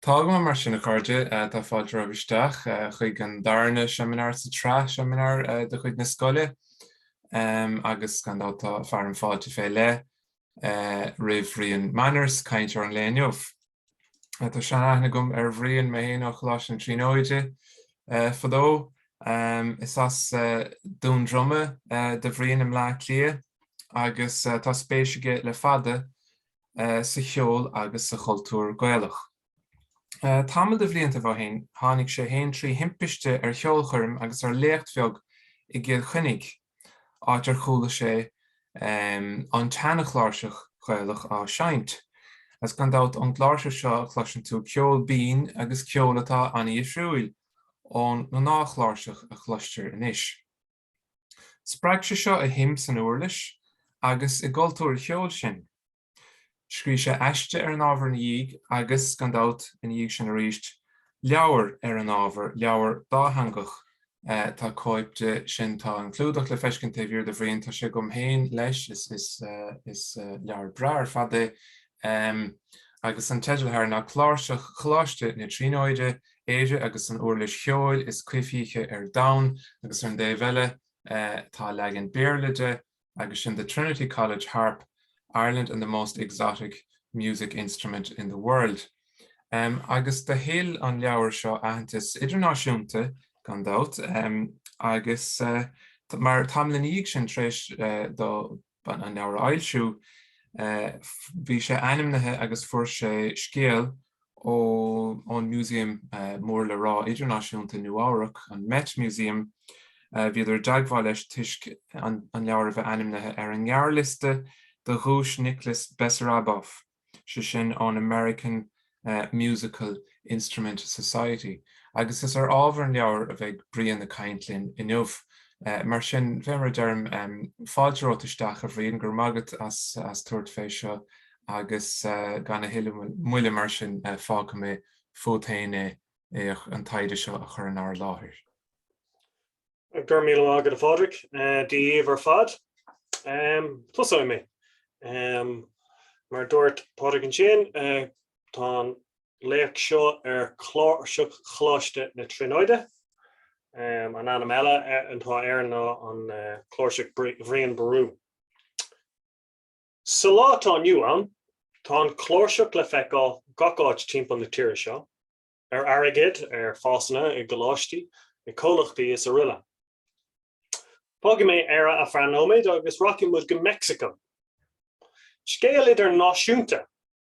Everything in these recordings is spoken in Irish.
Tá go maith mar sin, a chairde. Tá fáilte romhaibh isteach chuig an darna seimineár sa tsraith seimineár de chuid na scoile agus gan dabht tá fearadh na fáilte fé leith roimh Bhrian Manners, cainteoir an lae inniu. Tá sean-aithne agam ar Bhrian, mé fhéin, ó Choláiste na Tríonóide fadó. Is as Dún Droma do Bhrian i mBleá Cliath agus tá spéis aige le fada sa cheol agus sa chultúr Gaelach. Tamall de bhliantaibh ó shin tháinig sé fhéin trí thimpiste ar cheolchoirm agus ar léacht bheag i gCill Chainnigh. áit ar chuala sé an tseana-chláirseach Ghaelach á seinnt. Agus gan dabht, ón gcláirseach seo cloiseann tú ceol binn agus ceol atá ana-dhifriúil ón ngnáthchláirseach a chloistear anois. Spreag sé seo a shuim san uirlis agus i gcultúr a cheoil sin. Scríobh sé aiste ar an ábhar ina dhiaidh agus, gan dabht, ina dhiaidh sin arís, leabhar ar an ábhar, leabhar dátheangach. Tá cóip de sin, tá an clúdach le feiscint taobh thiar de Bhrian, tá sé agam féin leis, is leabhar breá ar fad é, agus an teideal atá air ná Cláirseach Choláiste na Tríonóide, Éire agus an Uirlis Cheoil is Coimhthíche ar Domhan, agus ar an dtaobh eile tá leagan Béarla de, agus sin The Trinity College Harp, Ireland and the Most Exotic Music Instrument in the World. Agus do thuill an leabhar seo aitheantas idirnáisiúnta, gan dabht, agus mar tamall ina dhiaidh sin, tar éis dó an leabhar a fhoilsiú, bhí sé ainmnithe agus fuair sé scéal ón Músaem mór le rá idirnáisiúnta i Nua-Eabhrac, an Met Museum, bhíodar i dteagmháil leis toisc an leabhar a bheith ainmnithe ar an ngearrliosta do Dhuais Nicholas Bessaraboff, sé sin ón American Musical Instrument Society. Agus is ar ábhar an leabhair a bheidh Brian ag caint linn inniu. Mar sin, fé mar a deirim, fáilte romhat isteach, a Bhriain, go raibh maith agat as tabhairt fé seo agus gan a thuilleadh moille mar sin fágfaidh mé fút féin é an taighde seo a chur in ár láthair. Go raibh míle maith agat a Phádraig, Dia daoibh ar fad. Tosóidh mé. Mar dúirt Pádraig ansin, tá an léacht seo ar chláirseach Choláiste na Tríonóide. An t-ainm eile atá air ná an chláirseach Bhrian Ború. Sa lá atá inniu ann, tá an chláirseach le feiceáil gach áit timpeall na tíre seo, ar airgead, ar phasanna, i gcoláistí, i gcomhlachtaí is aroile. Fágfaidh mé Éire ar feadh nóiméid agus rachaidh muid go Meicsiceo. Scéal idirnáisiúnta!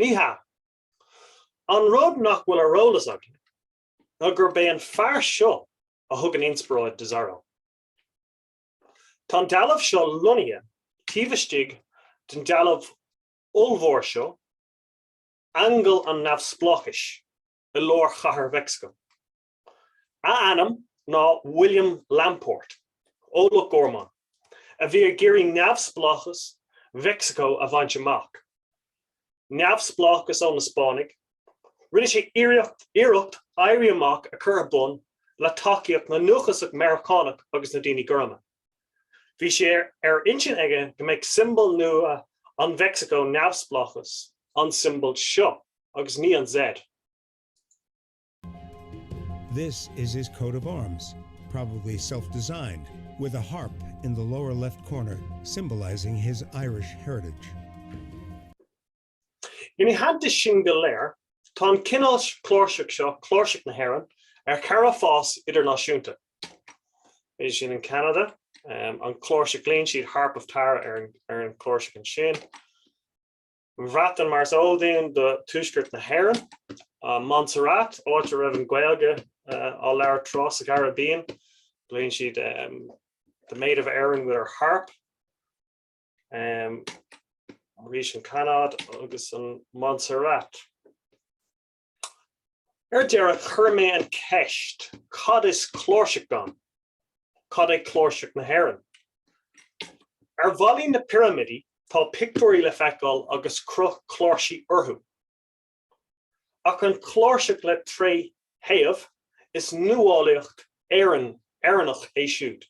Ní hea. An rud nach bhfuil ar eolas againn ná gurb é an fear seo a thug an inspioráid do Zorro. Tá an dealbh seo lonnaithe taobh istigh den dealbh ollmhór seo, Aingeal an Neamhspleáchais, i lár Chathair Mheicsiceo. A ainm ná William Lamport, ó Loch Gorman, a bhí ag iarraidh neamhspleáchas Mheicsiceo a bhaint amach, neamhspleáchas ó na Spáinnigh. Rinne sé iarracht éirí amach a chur ar bun le tacaíocht na ndúchasach Meiriceánach agus na ndaoine gorma. Bhí sé ar intinn aige go mbeadh siombail nua an Mheicsiceo neamhspleáchas, an siombail seo agus ní an Z. This is his coat of arms, probably self-designed, with a harp in the lower left corner symbolising his Irish heritage. Ina theannta sin go léir, tá an cineál cláirseach seo, cláirseach na hÉireann, ar chara fás idirnáisiúnta. Bhí sin in Canada, an cláirseach glaonn siad Harp of Tara ar an cláirseach ansin. Bhreatain mar is eol dúinn do Tuaisceart na hÉireann, Montserrat áit a raibh an Gaeilge eh, á labhairt tráth sa Caribbean, glaonn siad The Maid of Erin with her harp. Um, arís an Canada agus an Montserrat. Ar deireadh, chuir mé an cheist, cad is cláirseach ann? Cad é cláirseach na hÉireann? Ar bhallaí na pirimidí tá pictiúirí le feiceáil agus cruth cláirsí orthu. Ach an chláirseach le trí thaobh, is nuálaíocht Éireann, Éireannach é siúd.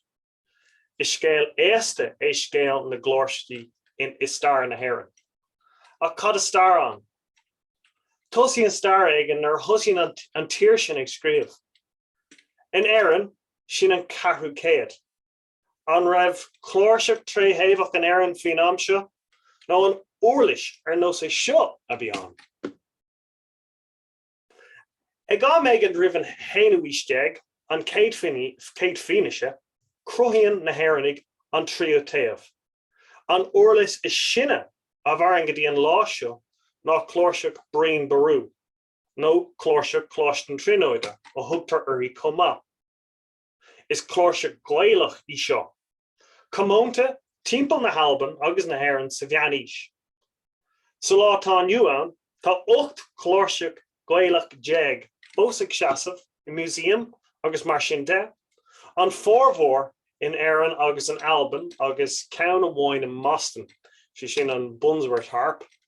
Is scéal aosta é scéal na gcláirsí i stair na hÉireann. Ach cad is stair ann? Tosaíonn stair éigin nuair a thosaíonn an tír sin ag scríobh. In Éirinn, sin an ceathrú céad. An raibh cláirseach tríthaobhach in Éirinn faoin am seo, nó an uirlis ar nós é seo a bhí ann? Ag am éigin roimh an haonú haois déag, an chéad fianaise, cruthaíonn na hÉireannaigh an tríú taobh. An uirlis is sine a mhaireann go dtí an lá seo ná cláirseach Brian Boru, nó cláirseach Choláiste na Tríonóide a thugtar uirthi chomh maith. Is cláirseach Gaelach í seo, comónta timpeall na hAlban agus na hÉireann sa Mheánaois. Sa lá atá inniu ann, tá 18 cláirseach Gaelach fós ag seasamh i museaim agus mar sin de, an formhór in Éirinn agus in Albain agus ceann amháin i mBoston, sé sin an Bunworth Harp.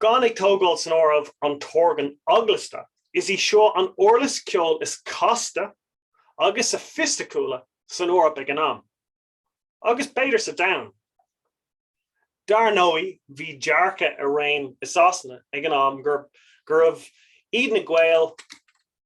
Gan ag tógáil san áireamh an t-organ eaglasta, is í seo an uirlis ceoil is casta agus soifisticiúla san Eoraip ag an am, agus b'fhéidir sa domhan. Dar ndóigh, bhí dearcadh i réim i Sasana ag an am gurb iad na Gaeil,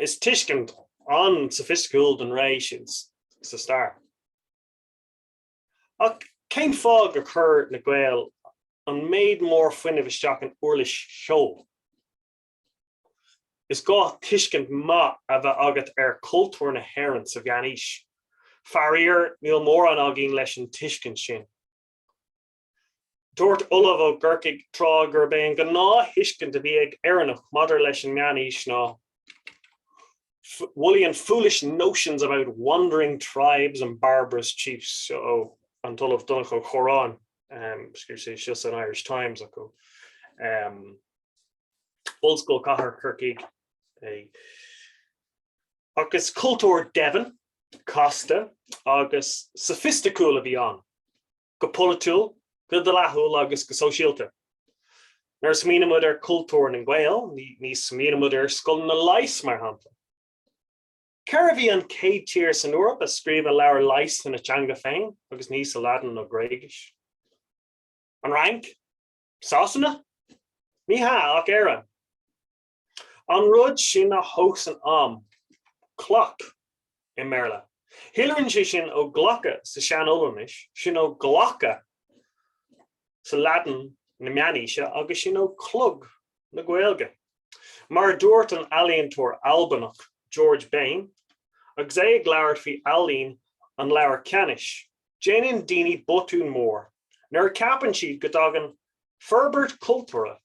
Is tuiscint an-soifisticiúil den ré sin sa stair. Ach cén fáth gur chuir na Gaeil an méid mór fuinnimh isteach in uirlis seo? Is gá tuiscint maith a bheith agat ar chultúr na hÉireann sa Mheánaois. Faraor, níl mórán againn leis an tuiscint sin. Dúirt ollamh ó gCorcaigh tráth gurb é an gnáth-thuiscint a bhí ag Éireannach maidir leis an Meán-Aois ná woolly and foolish notions about wandering tribes and barbarous chiefs ó an tOllamh Donncha Ó Corráin, um, excuse me, seo san Irish Times. Um, Ollscoil Cathair Corcaigh é. Agus cultúr domhain, casta agus soifisticiúil a bhí ann. go polaitiúil, go dleathúil agus go sóisialta. Nuair a smaoineann muid ar chultúr na nGael, ní smaoineann muid ar scoileanna leighis, mar shampla. Cérbh í an chéad tír san Eoraip a scríobhadh leabhar leighis ina teanga féin agus ní sa Laidin nó Gréigis? An Fhrainc? Sasana? Ní hea, ach Éire. An rud sin a thomhaiseann am, clock i mBéarla. Shíolraíonn sé sin ó clocke sa Sean-Ollainnis, sin ó clocca sa Laidin na Meánaoise agus sin ó chlog na Gaeilge. Mar a dúirt an ealaíontóir Albanach George Bain agus é ag labhairt faoi ealaín an leabhair Ceanannais, déanann daoine botún mór nuair a ceapann siad go dtagann forbairt cultúrtha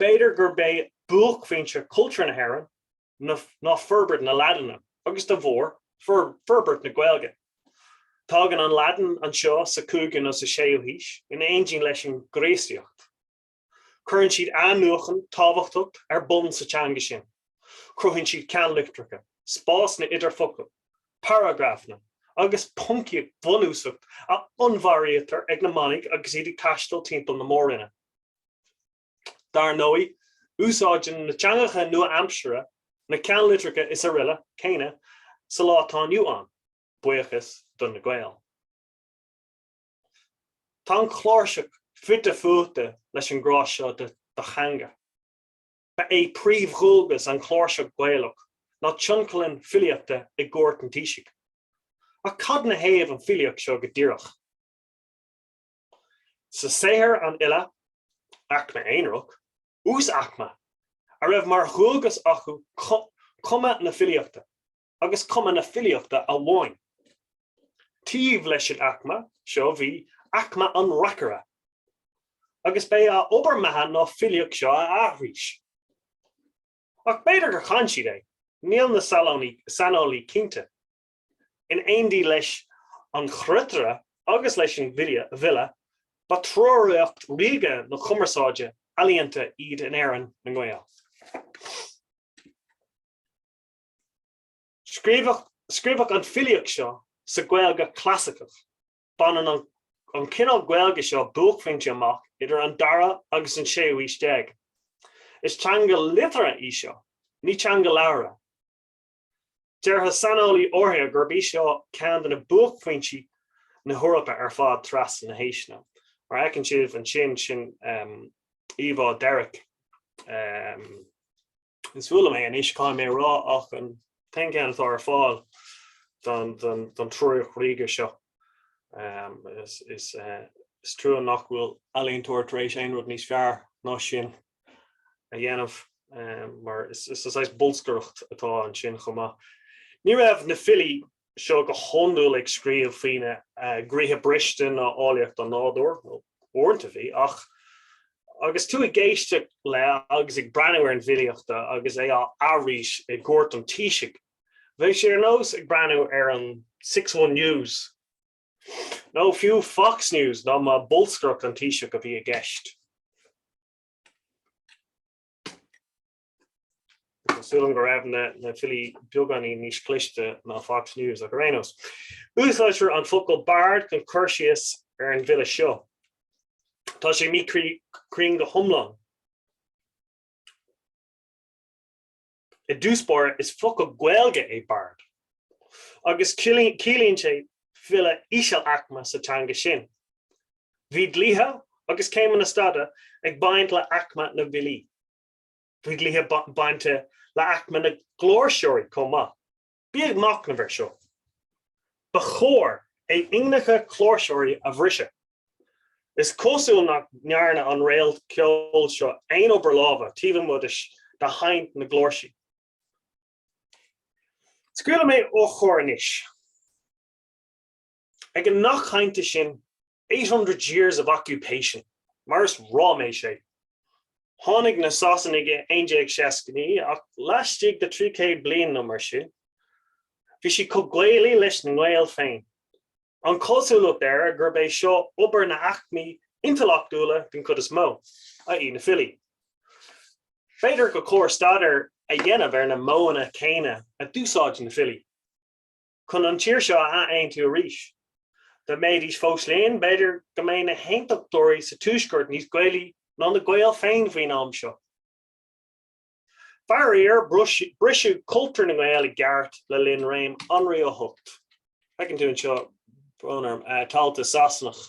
B'fhéidir gurb é buaicphointe chultúr na hÉireann ná forbairt na Laidine, agus dá bharr, forbairt na Gaeilge. Tagann an Laidin anseo sa 5ú nó sa 6ú haois, in éindí leis an gCríostaíocht. Cuireann siad athnuachan tábhachtach ar bun sa teanga sin. Cruthaíonn siad ceannlitreacha, spásanna idir focail, paragrafanna, agus poncaíocht bhunúsach a onnmhairítear ag na manaigh agus iad ag taisteal timpeall na Mór-Roinne. Dar ndóigh, úsáideann na teangacha nua-aimseartha na ceannlitreacha is araile céanna sa lá atá inniu ann, buíochas do na Gaeil. Tá an chláirseach fite fuaite leis an ngrá seo do theanga. Ba é príomhdhualgas an chláirseach Ghaelach ná tionlacan filíochta i gcúirt an taoisigh. Ach cad 'na thaobh an filíocht seo go díreach? Sa saothar an fhile, aicme aonarach, uasaicme, a raibh mar dhualgas acu cumadh na filíochta, agus cumadh na filíochta amháin, taobh leis an aicme seo bhí aicme an reacaire, agus b'é a obair mbeatha ná filíocht seo a aithris. Ach b'fhéidir gur chan siad é, níl na saineolaí cinnte. In éindí leis an chruitire agus leis an bhfile, ba triúracht ríoga na cumarsáide ealaíonta iad in Éirinn na nGael. Scríobhadh an filíocht seo sa Ghaeilge Chlasaiceach. Baineann an cineál Gaeilge seo buaicphointe amach idir an dara agus an séú haois déag. Is teanga liteartha í seo, ní teanga labhartha. Déarfadh saineolaí áirithe gurb í seo ceann de na buaicphointí na hEorpa ar fad trasna na haoiseanna. Mar a fheiceann sibh ansin, sin íomhá Derricke. Is fuath liom é anois, caithfidh mé a rá, ach an t-aon cheann atá ar fáil don triúracht ríoga seo. Is trua nach bhfuil ealaíontóir tar éis aon rud níos fearr ná sin a dhéanamh mar is saghas bolscaireacht atá ansin chomh maith. Ní raibh na filí seo go hiondúil ag scríobh faoina gcroíthe briste ná áilleacht an nádúir, uaireanta bhí, ach agus tú ag éisteacht le agus ag breathnú ar an bhfilíocht agus é á aithris i gcúirt an taoisigh, bheadh sé ar nós ag breathnú ar an Six One News. nó fiú Fox News ná má bolscaireacht an Taoisigh a bhí i gceist. Tá súil agam go raibh na filí beagáinín níos cliste ná Fox News ach ar aon nós. Úsáidtear an focal bard chun cur síos ar an bhfile seo. Tá sé míchruinn go hiomlán. I dtús báire, is focal Gaeilge é bard, agus ciallaíonn sé file íseal-aicme sa teanga sin. Bhí dlíthe agus céimeanna staide ag baint le haicme na bhfilí. Bhí dlíthe bainte le haicme na gcláirseoirí chomh maith. Bí ag machnamh air seo. Ba chóir a ingneacha cláirseoirí a bhriseadh. Is cosúil nach ndearna an réalt ceoil seo aon obair lámha taobh amuigh de sheinnt na gcláirsí. Scaoilfidh mé ó chóir anois. Ag an nath cainte sin 'eight hundred years of occupation', mar is ráiméis é. Tháinig na Sasanaigh i 1169 ach laistigh de thrí chéad bliain nó mar sin, bhí siad chomh Gaelaí leis na Gaeil féin. An chosúlacht air gurb é seo obair na haicmí intleachtúla den chuid is mó, i.e. na filí. B'fhéidir go cóir staidéar a dhéanamh ar na modhanna céanna a d'úsáid na filí. chun an tír seo a ath-aontú arís. Dá mbeidís fós linn, b'fhéidir go mbeadh na hAontachtóirí sa Tuaisceart níos Gaelaí ná na Gaeil féin faoin am seo. Faraor, briseadh cultúr na nGael i gceart le linn réim Anraí a hOcht. Feiceann tú anseo, brón orm, talta Sasanach.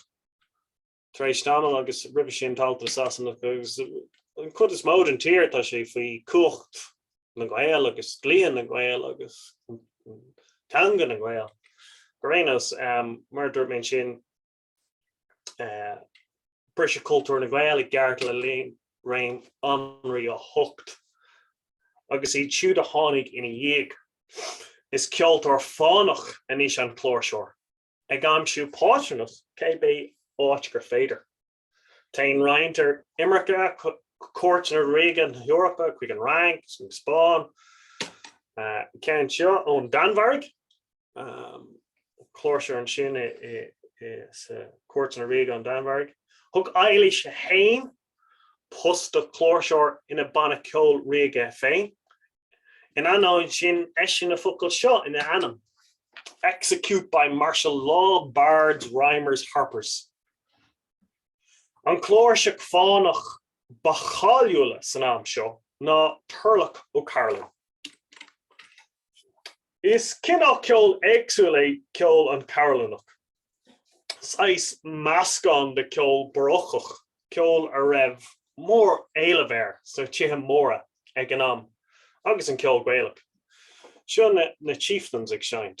tar éis tamaill agus roimhe sin talta Sasanach agus an chuid is mó den tír tá sé faoi chumhacht na nGael agus dlí na nGael agus teanga na nGael ar aon nós. Mar a dúirt mé ansin briseadh cultúr na nGael i gceart le linn réim Anraí a hocht agus iad siúd a tháinig ina dhiaidh. Is ceoltóir fánach anois an cláirseoir Ag aimsiú pátrúnacht cibé áit gur féidir, téann roinnt ar imirce go cúirteanna ríoga na hEorpa, chuig an Fhrainc, chuig an Spáinn, an ceann seo ón Danmhairg, cláirseoir ansin sa cúirteanna ríoga an Danmhairg. Thug Eilís a haon post do chláirseoir ina banna ceoil ríoga féin. In ainneoin sin, eisíonn na focail seo ina ainm, 'Execute by martial law bards, rhymers, harpers'. An chláirseach fánach ba cháiliúla san am seo ná Turlough O'Carolan. Is cineál ceoil éagsúil é ceol an Chearbhallánach, saghas meascán de cheol barócach, ceol a raibh mór éileamh air sna tithe móra ag an am, agus an ceol Gaelach. Seo na Chieftains ag seinnt.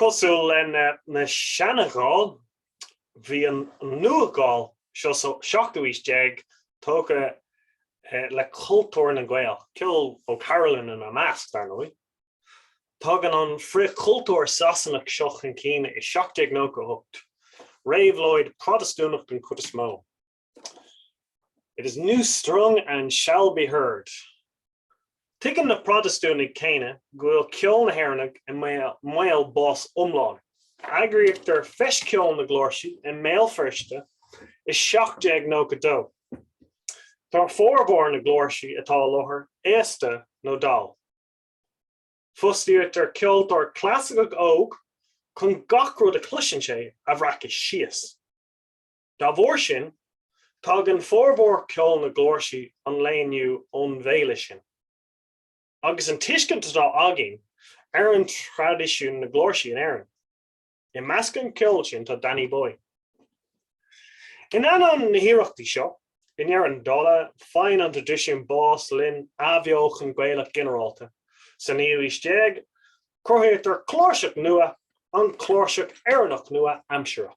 Cosúil leis na Seana-Ghaill, bhí na Nua-Ghaill, seo so 17ú aois, tógtha le cultúr na nGael, ceol O'Carolan ina measc, dar ndóigh. Tagann an frith-chultúr Sasanach seo chun cinn i 1798, Réabhlóid Protastúnach den chuid is mó. It is new strung and shall be heard. Tuigeann na Protastúnaigh céanna go bhfuil ceol na hÉireannach i mbaol bás iomlán. Eagraíochtar Feis Ceoil na gCláirsí i mBéal Feirste i 1792. Tá formhór na gcláirsí atá i láthair aosta nó dall. Fostaíochtar ceoltóir clasaiceach óg chun gach rud a chloiseann sé a bhreacadh síos. Dá bharr sin, tagann formhór ceol na gcláirsí an lae inniu ón bhféile sin. Agus an tuiscint atá againn ar an traidisiún na gcláirsí in Éirinn, i measc an ceol sin tá Danny Boy. In ainneoin na hiarrachtaí seo, i ndeireadh an dála, faigheann an traidisiún bás. Le linn athbheochan Gaelach ginearálta sa naoú aois déag, cruthaíochtar cláirseach nua, an cláirseach Éireannach nua-aimseartha.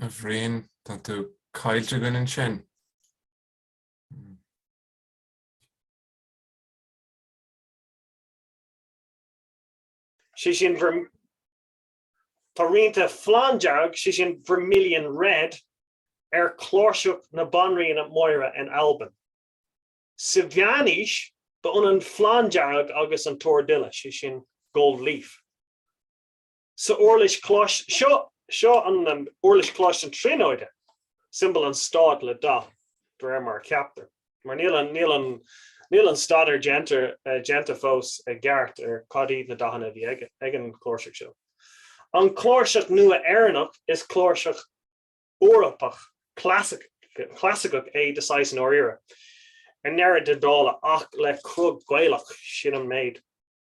A Bhriain, tá tú caillte againn ansin. Sé sin bhur. Tá rianta Flanndearg, sé sin Vermilion Red, ar chláirseach na Banríona Máire in Albain. Sa mheánaois, ba ionann Flanndearg agus an t-órdhuille, sé sin Gold Leaf. Sa uirlis chláirseach seo, seo an uirlis chláirseach na Tríonóide, siombal an stáit le dath, de réir mar a cheaptar. Mar níl an, níl an, níl an staidéar déanta, déanta fós i gceart ar cad iad na dathanna a bhí ag, ag an gcláirseach seo. An cláirseach nua Éireannach, is cláirseach Eorpach clasaic, chlasaiceach é de shaghas i ndáiríre, i ndeireadh na dála ach le cruth Gaelach, sin an méid.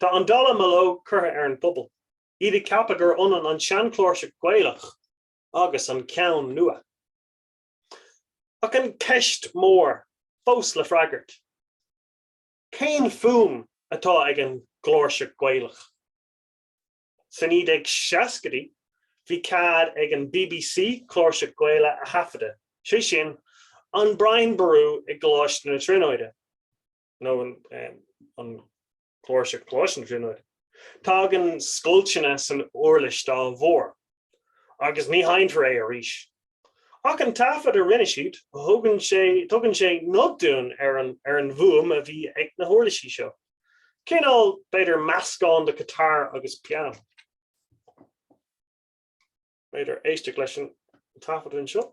Tá an dallamullóg curtha ar an bpobal, iad ag ceapadh gur ionann an seanchláirseach Gaelach agus an ceann nua. Ach an ceist mór fós le freagairt, cén fuaim atá ag an gcláirseach Gaelach? Sna 1960idí, bhí cead ag an BBC cláirseach Gaelach a thaifeadadh, sé sin, an Brian Boru i gColáiste na Tríonóide. nó an cláirseach Coláiste na Tríonóide. Tagann scoilteanna san uirlis dá bharr, agus ní sheinnfear é arís. Ach an taifead a rinne siad, tugann sé, tugann sé nod dúinn ar, ar an bhfuaim a bhí ag na huirlisí seo, cineál, b'fhéidir, meascán de ghiotár agus pianó. B'fhéidir éisteacht leis an taifead anseo.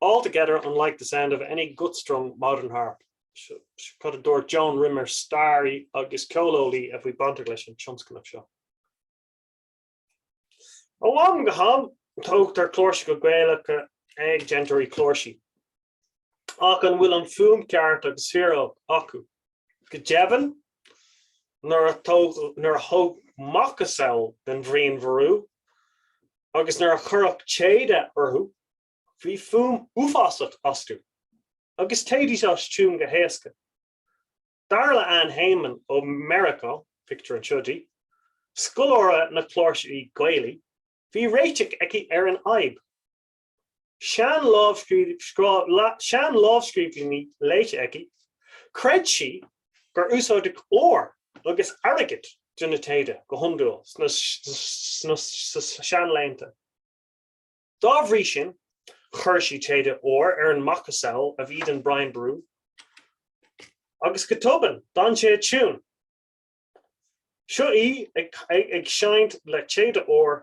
Altogether unlike the sound of any gut-strung modern harp, mar a dúirt Joan Rimmer, staraí agus ceoleolaí a bhí bainteach leis an tionscnamh seo? Ó am go ham, tógtar cláirseacha Gaelacha ag déantóirí cláirsí. Ach an bhfuil an fuaim ceart agus fíor acu? Go deimhin, nuair a tógadh macasamhail den Bhrian Boru agus nuair a cuireadh téada orthu bhí fuaim uafásach astu agus théidís as tiún go héasca. Dar le Ann Heymann ó Mheiriceá, pictiúr anseo di, scoláire na cláirsí Gaelaí, bhí réiteach aici ar an fhadhb. sean-lámhscríbhinní léite aici, chreid sí gur úsáideadh ór agus airgead do na téada go hiondúil sna seanlaethanta. Dá bhrí sin, chuir sí téada óir ar an macasamhail a bhí den Brian Boru agus go tobann, d'fhan sé i dtiúin. Seo í ag seinnt le téada óir.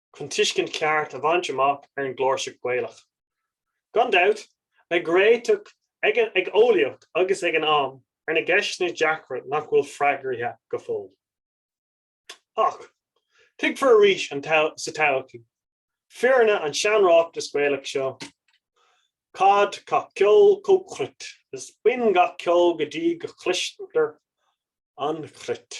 chun tuiscint cheart a bhaint amach ar an gcláirseach Gaelach. Gan dabht, beidh réiteach ag an eolaíocht agus ag an am ar na gceisteanna deacra nach bhfuil freagraithe go fóill. Ach, tuigfear arís sa todhchaí, fírinne an tseanráiteas Gaelach seo, caid gach ceol go cruit is binn gach ceol go dtí go chloistear an chruit.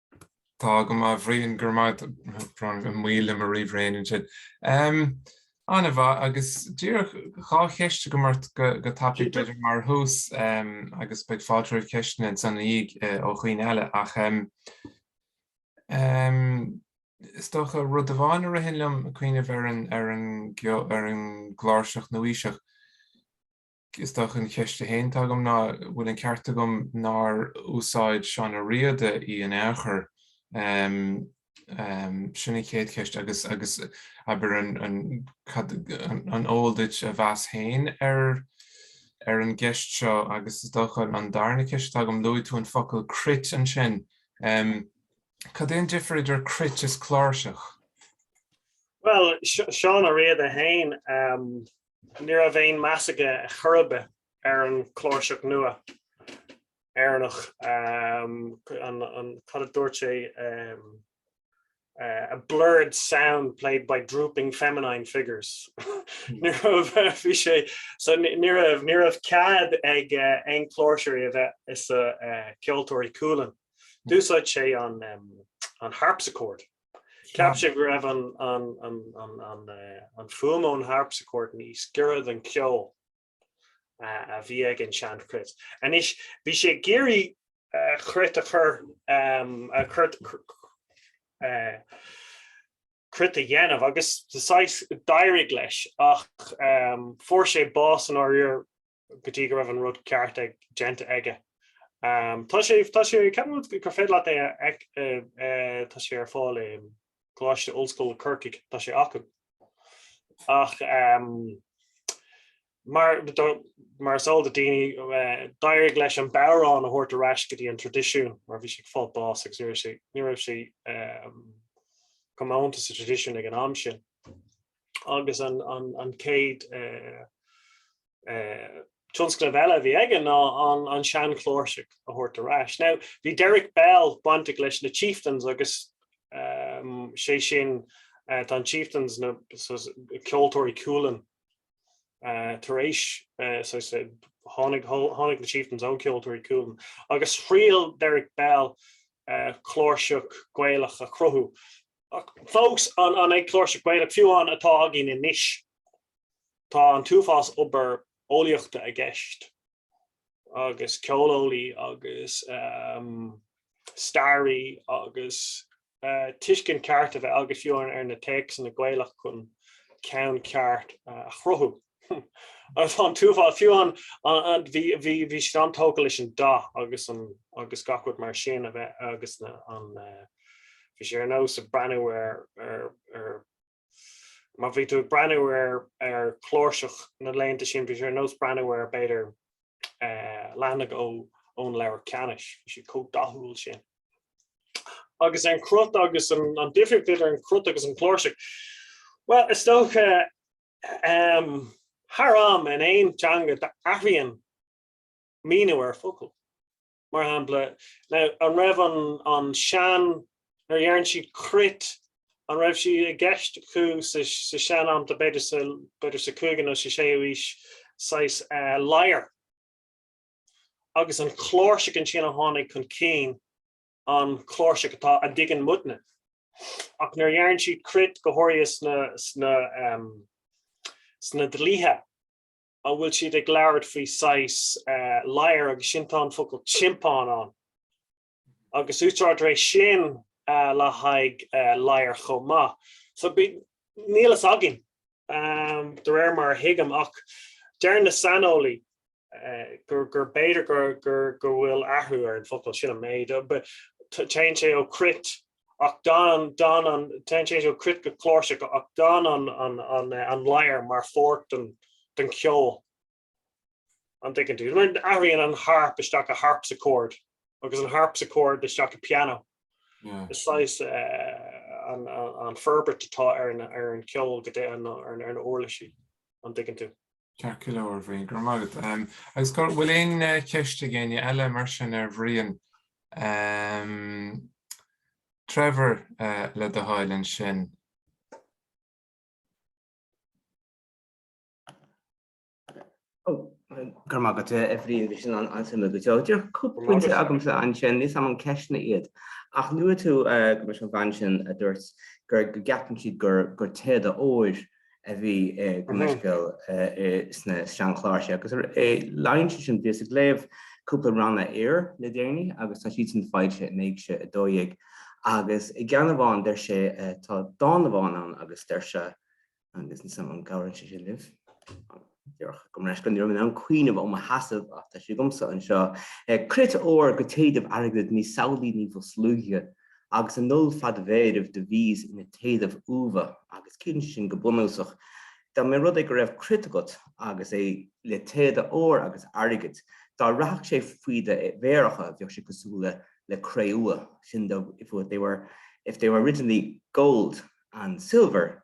Tá go maith a Bhriain, go raibh maith agat, an moill liom a ríomhairéin ansin. An-mhaith agus díreach dhá cheist agam ort go tapaidh b'fhéidir mar thús agus beidh fáilte roimh cheisteanna ansan ina dhiaidh ó dhaoine eile ach is dócha rud amháin a ritheann liom ag cuimhneamh ar an gcláirseach nua-aoiseach. Is dócha an cheist atá agam ná, bhfuil an ceart agam nár úsáid Seán Ó Riada í in aon chor? Sin an chéad cheist agus agus abair an eol duit a mheas féin ar ar an gceist seo agus is dócha an darna ceist atá agam, luaigh tú an focal 'cruit' ansin. Cad é an difear idir 'cruit' is 'cláirseach'? Bhuel, Seán Ó Riada féin, Ní raibh aon meas aige ar chor ar bith ar an chláirseach nua Éireannach, cad a dúirt sé, a blurred sound played by drooping feminine figures. Ní raibh, bhí sé, so ní raibh, ní raibh cead ag aon chláirseoirí a bheith i sa Ceoltóirí Cualann. D'úsáid sé an harpsichord. Cheap sé go raibh an fhuaim ón harpsichord níos giorra don cheol a bhí ag an seanchruit. Anois bhí sé ag iarraidh chruit a chur cruit a dhéanamh agus d'éirigh leis ach fuair sé bás i ndáiríre go dtí go raibh an rud ceart déanta aige. Tá sé, tá sé, ceapaim gur féidir leat é a, tá sé ar fáil i gColáiste Ollscoile Corcaigh, tá sé acu. Ach mar, mar is eol do daoine, d'éirigh leis an bodhrán a thabhairt ar ais go dtí an traidisiún mar bhí sé ag fáil bás agus ní raibh sé, ní raibh sé comónta sa traidisiún ag an am sin. agus an chéad tionscnamh eile a bhí aige ná an seanchláirseach a thabhairt ar ais. Now, bhí Derek Bell bainteach leis na Chieftains agus sé sin, tá an Chieftains na Ceoltóirí Cualann tar éis, tháinig na Chieftains ó Ceoltóirí Cualann agus thriail Derek Bell cláirseach Gaelach a chruthú. Ach fós, an ag cláirseach Gaelach fiú amháin atá againn anois? Tá an t-uafás obair eolaíochta i gceist, agus ceoleolaí agus staraí agus tuiscint ceart a bheith agat fiú amháin ar na téacsanna Gaelach chun ceann ceart a chruthú. Agus an t-uafás fiú amháin, bhí siad an-tógtha leis an dath agus an, agus gach rud mar sin a bheith, agus an, bhí siad ar nós ag breathnú ar, ar, ar, má bhí tú ag breathnú ar, ar chláirseach na laethanta sin, bhí siad ar nós breathnú ar, b'fhéidir, leathanaigh ó, ón Leabhar Cheanannais, bhí siad chomh dathúil sin. Agus an chruit agus an, an difríocht idir an chruit agus an chláirseach, bhuel, is dócha, Thar am, in aon teanga athraíonn míniú ar focal. Mar shampla, an raibh an sean, nuair a deireann siad cruit, an raibh siad i gceist acu sa sean am, b'fhéidir sa 5ú nó sa 6ú aois, saghas lyre? Agus an cláirseach ansin a tháinig chun cinn an chláirseach atá a dtuigeann muidne, ach nuair a deireann siad cruit go háirithe sna dlíthe a bhfuil siad ag labhairt faoi saghas lyre agus sin tá an focal tiompán ann agus úsáidtear é sin le haghaidh lyre chomh maith. So níl a fhios againn de réir mar a thuigim ach deir na saineolaí gur b'fhéidir go bhfuil athrú ar an bhfocal sin, an méid, téann sé ó cruit ach gan an, téann sé ó cruit go cláirseach ach gan an lyre mar pháirt den ceol, an dtuigeann tú? Athraíonn an harp isteach go harpsichord agus an harpsichord isteach go piano. Is saghas an forbairt atá ar an ceol go deo, ar na huirlisí, an dtuigeann tú? Ceart go leor, bhuel, grma agat. Agus bhfuil aon cheist ag éinne eile mar sin ar Bhrian? Trevor, le do thoil ansin. Grma agat, a Bhriain, bhí sin an-suimiúil. Bhí díreach cúpla pointe agamsa ansin, níl a fhios agam an ceisteanna iad. Ach luaigh tú, go mb'é an bhean sin a dúirt go gceapann siad gur téada óir a bhí i gcumasc sna seanchláirsí, agus ar a leithéid sin bhíos ag léamh cúpla ranna aoire le déanaí agus tá siad sin faighte in Éigse 12. Agus i gceann amháin deir sé, tá dán amháin ann agus deir sé, agus n'fheadar an gcabhraíonn sé sin libh? Déarfadh go mbreis go ní raibh mé in ann cuimhneamh ó mo sheasamh ach tá sé agamsa anseo, cruit úr go téadaibh airgid ní samhlaí ní ba sluaighe, agus i ndul fád mhéaraibh do bhíos ina téadaibh umha, agus cinn sin go bunúsach. Dá mba rud é go raibh cruit agat agus é le téada óir agus airgid, dá rachadh sé faoi do mhéaracha bheadh sé cosúil le cré-umha, sin if they were originally gold and silver,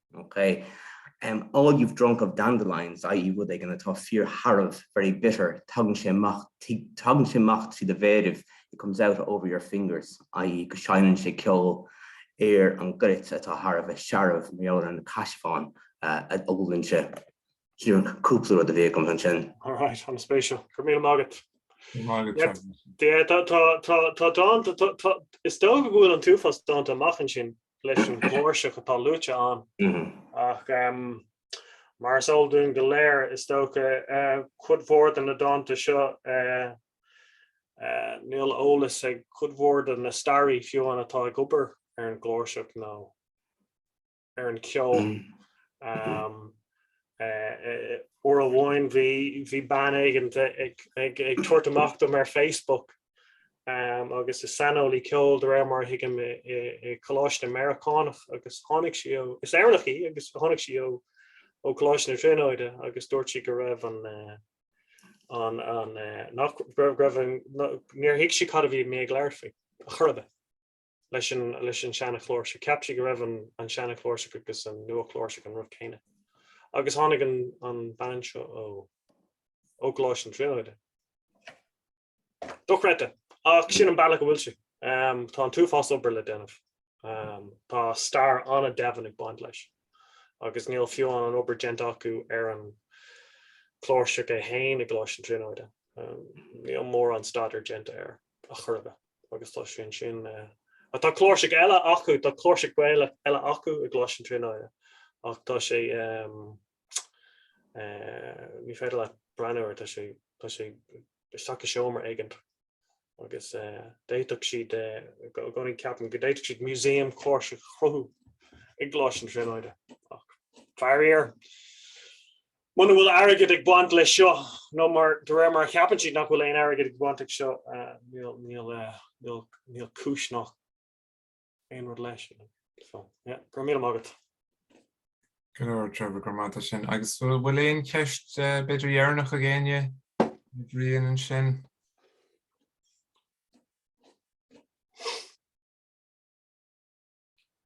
Ok. All you've drunk of dandelions, i.e. rud éigin atá fíorshearbh, very bitter, tagann sé amach, tagann sé amach trí do mhéiribh, it comes out over your fingers, i.e. go seinneann sé ceol ar an gcruit atá thar a bheith searbh mar gheall ar an caisearbhán a ólann sé. Sin cúpla rud a bhí agam ansin. Alright, an-spéisiúil. Go raibh míle maith agat. Go raibh maith agat. Is dócha go bhfuil an t-uafás dánta amach ansin. leis an gcláirseach atá luaite ann ach mar is eol dúinn go léir is dócha eh, cuid mhór de na dánta seo eh, eh, níl eolas ag cuid mhór de na staraithe fiú amháin atá ag obair ar an gcláirseach nó ar an ceol. Mm. Um, uair amháin bhí bhí bean éigin ag tabhairt amach dom ar Facebook agus is saineolaí ceoil de réir mar a thuigim i gcoláiste Meiriceánach agus tháinig sí ó, is Éireannach í, agus tháinig sí ó ó Coláiste na Tríonóide agus dúirt sí go raibh an an an nach raibh an níor thuig sí cad a bhí mé ag labhairt faoi ar chor ar bith leis an leis an seanchláirseach, cheap sí go raibh an an seanchláirseach agus an nuachláirseach an rud céanna agus tháinig an an bhean seo ó ó Coláiste na Tríonóide. dochreidte, ach sin an bealach a bhfuil sé. Tá an t-uafás obair le déanamh. Tá stair an-domhain ag baint leis agus níl fiú amháin an obair déanta acu ar an gcláirseach é féin i gColáiste na Tríonóide. Níl mórán staidéir déanta air ar chor ar bith agus tá sé ansin. Ach tá cláirseach eile acu, tá cláirseach eile acu i gColáiste na Tríonóide ach tá sé, ní féidir leat breathnú air, tá sé, tá sé isteach i seomra éigint. Agus d'fhéadfadh siad, i gcónaí ceapaim, go d'fhéadfadh siad músaem cláirsí a chruthú i gColáiste na Tríonóide. Ach, faraor, muna bhfuil airgead ag baint le seo, nó mar, de réir mar a cheapann siad nach bhfuil aon airgead ag baint ag seo, níl, níl, níl cúis ná, Aon rud leis? Go raibh míle maith agat. Go leor, Trevor, go raibh maith agat as sin. Agus bhfuil bhfuil aon cheist b'fhéidir deireanach ag éinne ar Bhrian ansin?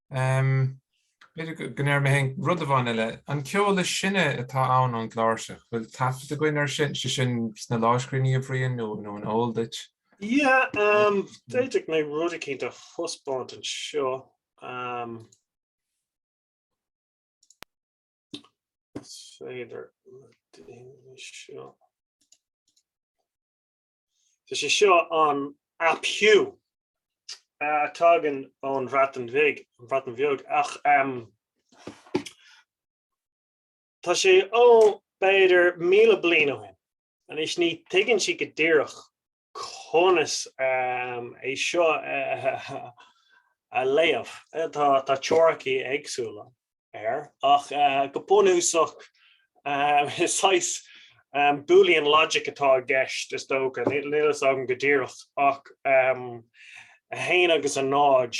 Um, b'fhéidir go n-iarrfaidh mé féin rud amháin eile. An ceol is sine atá ann ón gcláirseach, bhfuil taifead againn ar sin, sé sin sna lámhscríbhinní, a Bhriain, nó, nó an eol duit? Em, d'fhéadfadh mé rud eicínt a thaispeáint anseo. B'fhéidir seo. Tá sé seo an ap Huw, tagann ón Bhreatain Bhig an Bhreatain Bheag ach um, Tá sé ó b'fhéidir míle bliain ó shin. Anois ní thuigeann siad go díreach conas é seo a léamh, tá teoiricí éagsúla air, ach go bunúsach is saghas Boolean logic atá i gceist, is dócha, níl fhios agam go díreach ach 1 agus 0,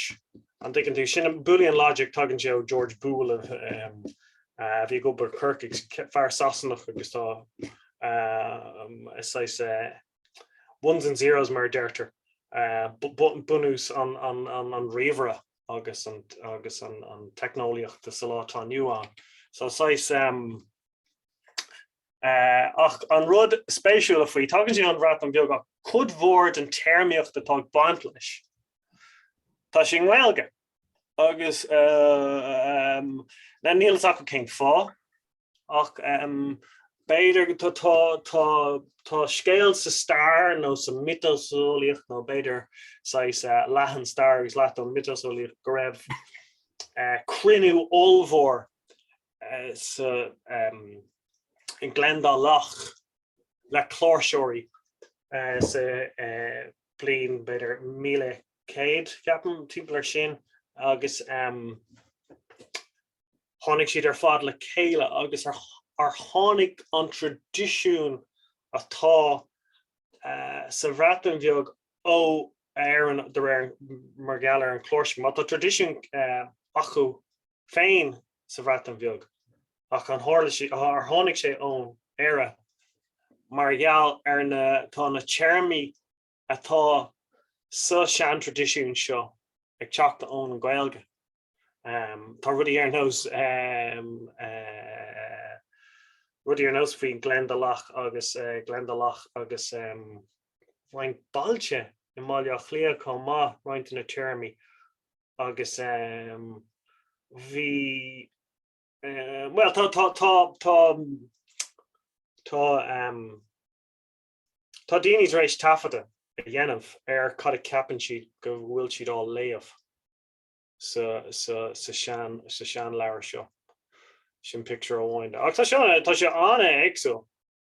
an dtuigeann tú, sin Boolean logic, tagann sé ó George Boole. Bhí Robert ap Huw ag fear Sasanach agus tá saghas ones and zeros mar a deirtear, bunús an ríomhaire agus an teicneolaíocht sa lá atá inniu ann. So saghas ach an rud spéisiúla faoi, tagann sé an Bhreatain Bheag ach cuid mhór den téarmaíocht atá ag baint leis, tá sé i nGaeilge. agus níl fhios acu cén fáth ach b'fhéidir tá scéal sa stair nó sa mhiotaseolaíocht nó b'fhéidir saghas leath den stair agus leath den mhiotaseolaíocht go raibh cruinniú ollmhór i nGleann Dá Loch le cláirseoirí sa bhliain b'fhéidir 1000. 100, ceapaim, timpeall air sin, agus tháinig siad ar fad le chéile agus ar tháinig an traidisiún atá sa Bhreatain Bheag ó Éirinn de réir mar gheall ar an gcláirseach. Má tá traidisiún acu féin sa Bhreatain Bheag ach ar tharla sé, ar tháinig sé ón Éire mar gheall ar na, tá na téarmaí atá sa seantraidisiún seo ag teacht ón nGaeilge. Tá rudaí ar nós rudaí ar nós faoi Gleann Dá Loch agus Gleann Dá Loch agus roinnt bailte i mBaile Átha Cliath chomh maith, roinnt de na téarmaí agus bhí bhuel tá tá tá tá Tá daoine tar éis taifeadadh a dhéanamh ar cad a cheapann siad go bhfuil siad á léamh sa seanleabhar seo. Sin pictiúr amháin de. Ach tá sé an-éagsúil.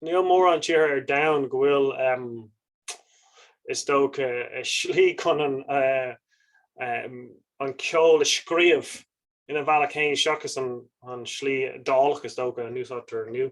Níl mórán tíortha ar domhan go bhfuil, is dócha, slí chun an ceol a scríobh ina bhealach féin seachas an slí Iodálach, is dócha, a n-úsáidtear inniu.